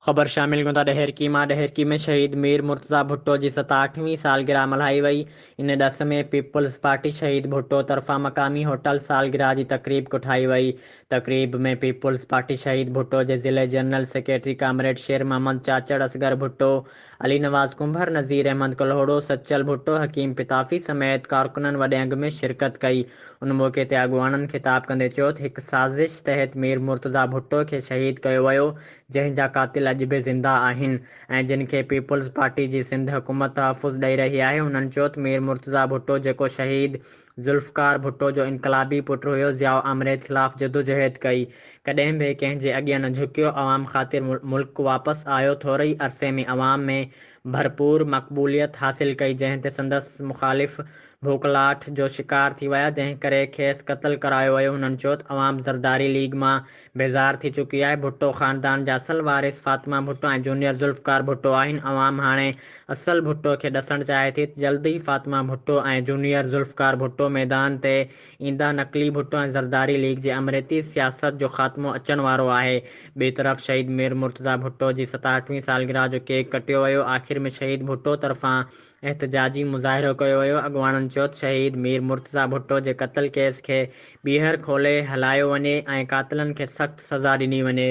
خبر شامل ڪيون ٿا ڏهرڪي مان ڏهرڪي ۾ شهيد مير مرتضيٰ ڀٽو جي ستاهٺ وين سالگرهه ملهائي وئي ان ڏس ۾ پيپلز پارٽي شهيد ڀٽو طرفان مقامي هوٽل سالگرهه جي تقريب ڪٺائي وئي تقريب ۾ پيپلز پارٽي شهيد ڀٽو جي ضلعي general secretary comrade Sher Muhammad Chachar Asghar Bhutto Ali Nawaz Kumbhar, Nazir Ahmed Kalhoro, Sachal Bhutto, Hakeem Pitafi سميت ڪارڪنن وڏي انگ ۾ شرڪت ڪئي. ان موقعي تي اڳواڻن خطاب ڪندي چيو ته هڪ سازش تحت مير مرتضيٰ ڀٽو کي شهيد ڪيو ويو جنهن جا قاتل اڄ به زنده آهن ۽ جن کي پيپلز پارٽي جي سنڌ حڪومت تحفظ ڏئي رهي آهي انهن چيو ته مير مرتضيٰ ڀٽو جيڪو شهيد ذوالفقار ڀٽو جو انقلابي پٽ هيو، ضياء آمريت خلاف جدوجهد ڪئي، ڪڏهن به ڪنهن جي اڳيان نه جهڪيو، عوام خاطر ملڪ واپس آيو، ٿوري ئي عرصي ۾ عوام ۾ ڀرپور مقبوليت حاصل ڪئي، جنهن تي سندس مخالف ڀوکلاٺ جو شڪار ٿي ويا، جنهن ڪري کيس قتل ڪرايو ويو، هنن چيو ته عوام زرداري ليگ مان بيزار ٿي چڪي آهي، ڀٽو خاندان جا اصل وارث فاطمه ڀٽو ۽ جونيئر ذوالفقار ڀٽو آهن، عوام هاڻي اصل ڀٽو کي ڏسڻ چاهي ٿي ته جلد ئي فاطمه ڀٽو ۽ جونيئر ذوالفقار ڀٽو ميدان تي ايندا، نقلي ڀٽو ۽ زرداري ليگ جي آمريتي سياست جو خاتمو اچڻ وارو آهي، ٻئي طرف شهيد مير مرتضيٰ ڀٽو جي ستاهٺ وين سالگرهه جو ڪيڪ ڪٽيو ويو، آخر ۾ شهيد ڀٽو طرفان احتجاجي مظاهرو ڪيو ويو، اڳواڻن چيو ته شهيد مير مرتضيٰ ڀٽو جي قتل ڪيس کي ٻيهر کولي هلايو وڃي ۽ قاتلن کي سخت سزا ڏني وڃي.